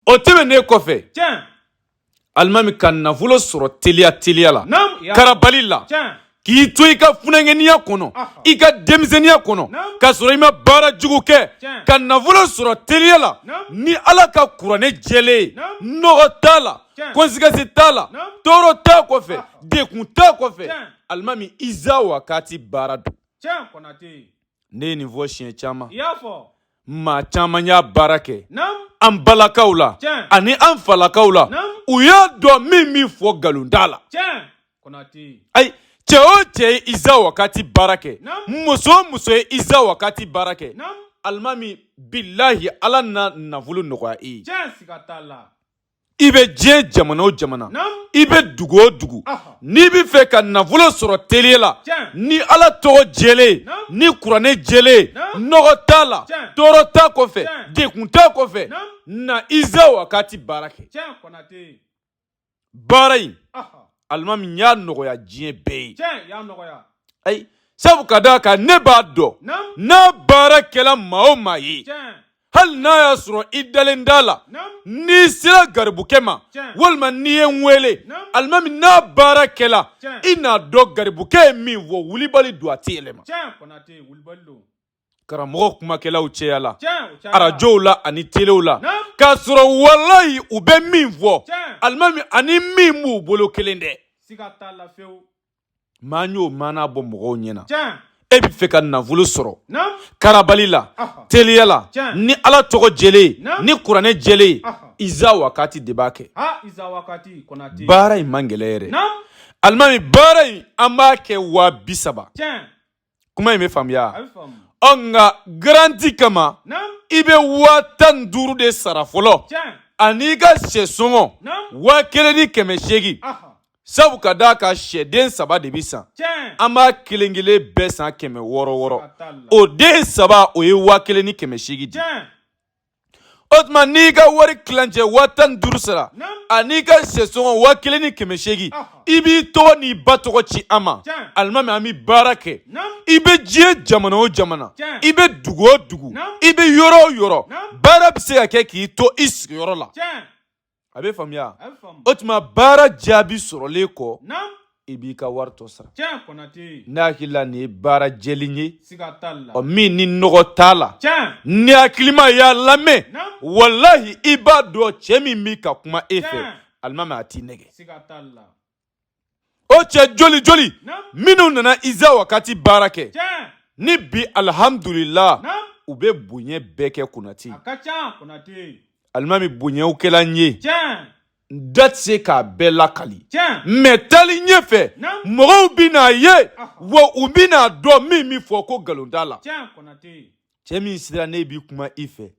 o tɛmɛnen kɔfɛ alimami ka nafolo sɔrɔ teliya teliya la karabali la k'i to i ka funankɛniya kɔnɔ i ka denmisɛnniya kɔnɔ ka sɔrɔ i ma baara jugu kɛ ka nafolo sɔrɔ teliya la ni ala ka kuranɛ jɛlen ye nɔgɔ t'a la conséquence t'a la tɔɔrɔ t'a kɔfɛ dekun t'a kɔfɛ alimami iza wakati baara don ne ye nin fɔ siɲɛ caman Maa caman y'a baara kɛ an balakaw la ani an falakaw la u y'a dɔn n bɛ min fɔ nkalon t'a la ayi cɛ o cɛ ye iza wakati baara kɛ muso o muso ye iza wakati baara kɛ alimami bilahi ala na nafolo nɔgɔya i ye i bɛ diɲɛ jamana o jamana i bɛ dugu o dugu n'i bɛ fɛ ka nafolo sɔrɔ teliya la ni ala tɔgɔ jɛlen ni kuranɛ jɛlen nɔgɔ t'a la tɔɔrɔ t'a kɔfɛ dekun t'a kɔfɛ na iza wakati baara kɛ baara in alimami n y'a nɔgɔya diɲɛ bɛɛ ye ayi sabu ka d'a kan ne b'a dɔn n'a baara kɛla maa o maa ye hali n'a y'a sɔrɔ i dalen t'a la n'i sera garibukɛ ma walima n'i ye n wele alimami n'a baara kɛla i n'a dɔn garibukɛ ye min fɔ wulibali don a tɛ yɛlɛma karamɔgɔ kumakɛlaw cayala arajow la ani telew la k'a sɔrɔ walayi u bɛ min fɔ alimami ani min b'u bolo kelen tɛ maa n y'o maana bɔ mɔgɔw ɲɛ na e bɛ fɛ ka nafolo sɔrɔ karabali la teliya la ni ala tɔgɔ jɛlen ni kuranɛ jɛlen iza wakati de b'a kɛ baara in man gɛlɛn yɛrɛ alimami baara in an b'a kɛ waa bi saba kuma in bɛ faamuya ɔ nka garanti kama i bɛ waa tan ni duuru de sara fɔlɔ an'i ka sɛsɔngɔ waa kelen ni kɛmɛ seegin sabu ka d'a kan sɛden saba de bɛ san an b'a kelen kelen bɛɛ san kɛmɛ wɔɔrɔ wɔɔrɔ o den saba o ye waa kelen ni kɛmɛ seegin di o tuma n'i ka wari kilancɛ waa tan ni duuru sara an'i ka sɛsɔngɔ waa kelen ni kɛmɛ seegin i b'i tɔgɔ n'i ba tɔgɔ ci an ma alimami an bɛ baara kɛ i bɛ diɲɛ jamana o jamana i bɛ dugu o dugu i bɛ yɔrɔ o yɔrɔ baara bɛ se ka kɛ k'i to i sigiyɔrɔ la a bɛ faamuya o tuma baara jaabi sɔrɔlen kɔ i b'i ka wari tɔ sara ne hakili la nin ye baara jɛlen ye ɔ min ni nɔgɔ t'a la ni hakilima y'a lamɛn walahi i b'a dɔn cɛ min bɛ ka kuma e fɛ alimami a t'i nɛgɛn o cɛ joli joli minnu nana iza wakati baara kɛ ni bi alihamdulila u bɛ bonya bɛɛ kɛ konate ye alimami bonyaw kɛla n ye n da tɛ se k'a bɛɛ lakali mɛ taali ɲɛfɛ mɔgɔw bɛn'a ye wa u bɛn'a dɔn n bɛ min fɔ ko nkalon t'a la cɛ min sirannen bɛ kuma i fɛ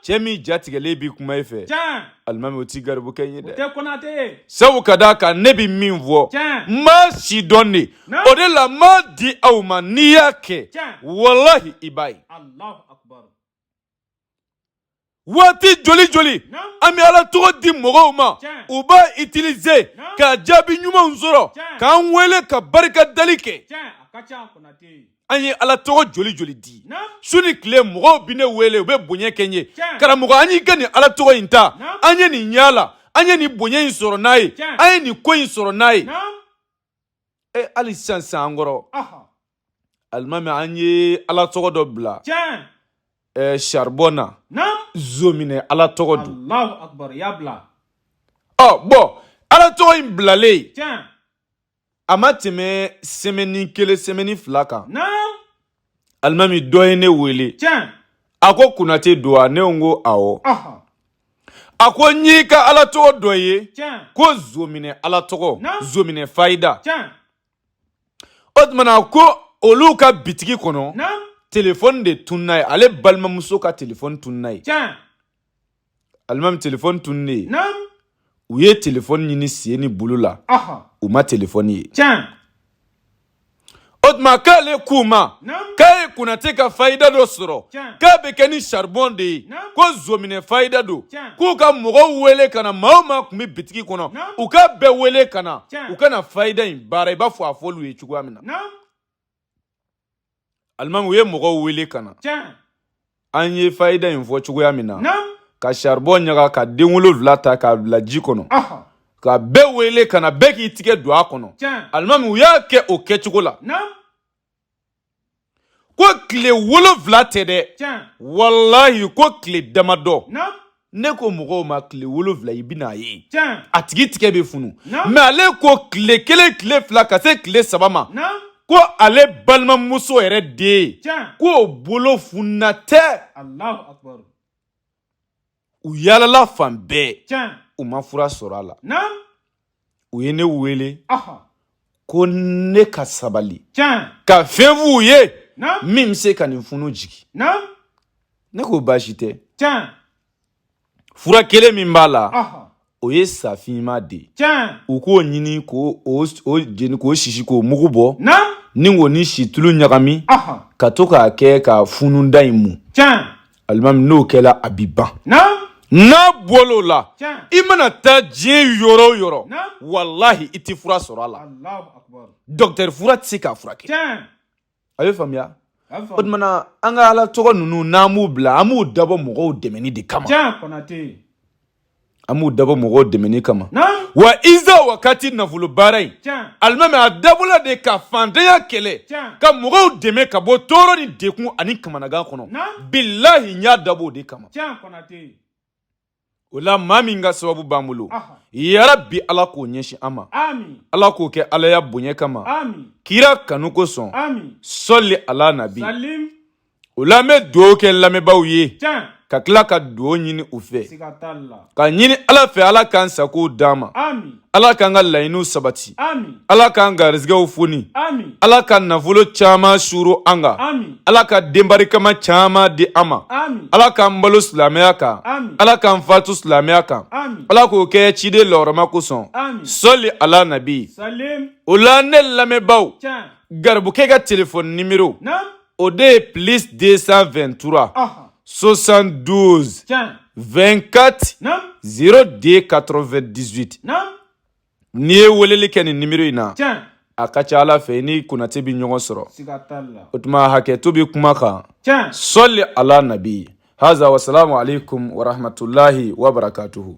cɛ min jatigɛlen bɛ kuma i fɛ alimami o t'i garibukɛ ye dɛ sabu ka d'a kan ne bɛ min fɔ n b'a sidɔn de o de la n b'a di aw ma n'i y'a kɛ walahi i b'a ye waati joli joli an bɛ ala tɔgɔ di mɔgɔw ma u b'a itilize ka jaabi ɲumanw sɔrɔ k'an wele ka barika dali kɛ an ye ala tɔgɔ joli joli di su ni tile mɔgɔw bɛ ne wele u bɛ bonya kɛ n ye karamɔgɔ an y'i ka nin ala tɔgɔ in ta an ye nin ɲa a la an ye nin bonya in sɔrɔ n'a ye an ye nin ko in sɔrɔ n'a ye e hali sisan san an kɔrɔ alimami an ye ala tɔgɔ dɔ bila ɛɛ saribɔn na zonminɛ ala tɔgɔ don ɔ bɔn ala tɔgɔ in bilalen a ma tɛmɛ sɛmɛni kelen sɛmɛni fila kan alimami dɔ ye ne wele a ko konate don wa ne ko awɔ a ko n y'i ka ala tɔgɔ dɔ ye ko zonminɛ ala tɔgɔ zonminɛ fayida o tumana ko olu ka bitigi kɔnɔ telefɔni de tunna yen ale balimamuso ka telefɔni tunna yen alimami telefɔni tunnen yen u ye telefɔni ɲini sen ni bolo la u ma telefɔni ye o tuma k'ale k'u ma k'a ye konate ka fayida dɔ sɔrɔ k'a bɛ kɛ ni saribɔn de ye ko zonminɛ fayida don k'u ka mɔgɔw wele ka na maa o maa tun bɛ bitigi kɔnɔ u k'a bɛɛ wele ka na u ka na fayida in baara i b'a fɔ a fɔl'u ye cogoya min na alimami u ye mɔgɔw wele ka na an ye fayida in fɔ cogoya min na ka saribɔn ɲaga ka den wolonwula ta k'a bila ji kɔnɔ ka bɛɛ wele ka na bɛɛ k'i tigɛ don a kɔnɔ alimami u y'a kɛ o kɛcogo la ko tile wolonwula tɛ dɛ walayi ko tile damadɔ ne ko mɔgɔw ma tile wolonwula i bɛna a ye a tigi tigɛ bɛ funu mɛ ale ko tile kelen tile fila ka se tile saba ma ko ale balimamuso yɛrɛ den k'o bolo fununa tɛ u yaalala fan bɛɛ tiɲɛ u ma fura sɔrɔ a la naam u ye ne wele aha ko ne ka sabali tiɲɛ ka fɛn f'u ye naam min bɛ se ka nin funu jigin naam ne k'o baasi tɛ tiɲɛ fura kelen min b'a la aha o ye safinma de ye tiɲɛ u k'o ɲini k'o o s- o jeni k'o sisi k'o mugu bɔ na ni k'o ni situlu ɲagami ahɔn ka to k'a kɛ ka fununda in mun tiɲɛ alimami n'o kɛla a bi ban na n'a bɔl'o la tiɲɛ i mana taa diɲɛ yɔrɔ o yɔrɔ naamu walahi i tɛ fura sɔrɔ a la alahu akubaru dɔkitɛri fura tɛ se k'a furakɛ tiɲɛ a bɛ faamuya o tuma na an ka ala tɔgɔ ninnu n'an b'u bila an b'u dabɔ mɔgɔw dɛmɛni de kama an b'u dabɔ mɔgɔw dɛmɛni kama wa iza wakati nafolo baara in alimami a dabɔla de ka fantanya kɛlɛ ka mɔgɔw dɛmɛ ka bɔ tɔɔrɔ ni degun ani kamanagan kɔnɔ bilahi n y'a dabɔ o de kama o la maa min ka sababu b'an bolo yarabi ala k'o ɲɛsin an ma ala k'o kɛ alaya bonya kama kira kanu kosɔn sɔli ala nabi o la an bɛ dugawu kɛ lamɛnbaaw ye ka tila ka dugawu ɲini u fɛ ka ɲini ala fɛ ala k'an sago d'an ma ala k'an ka laɲiniw sabati ala k'an garisɛgɛw foni ala ka nafolo caman suuru an kan ala ka den barikama caman di an ma ala k'an balo silamɛya kan ala k'an faatu silamɛya kan ala k'o kɛ ciden lɔrɔma kosɔn sɔli ala nabi o la ne lamɛnbaaw garibukɛ ka telefɔni nimero o de ye plus 223 72 24 02 98 n'i ye weleli kɛ nin nimero in na a ka ca ala fɛ i ni konate bɛ ɲɔgɔn sɔrɔ o tuma hakɛto bɛ kuma kan sɔli ala nabi haza wasalamu aleykum warahmatulahi wabarakatuhu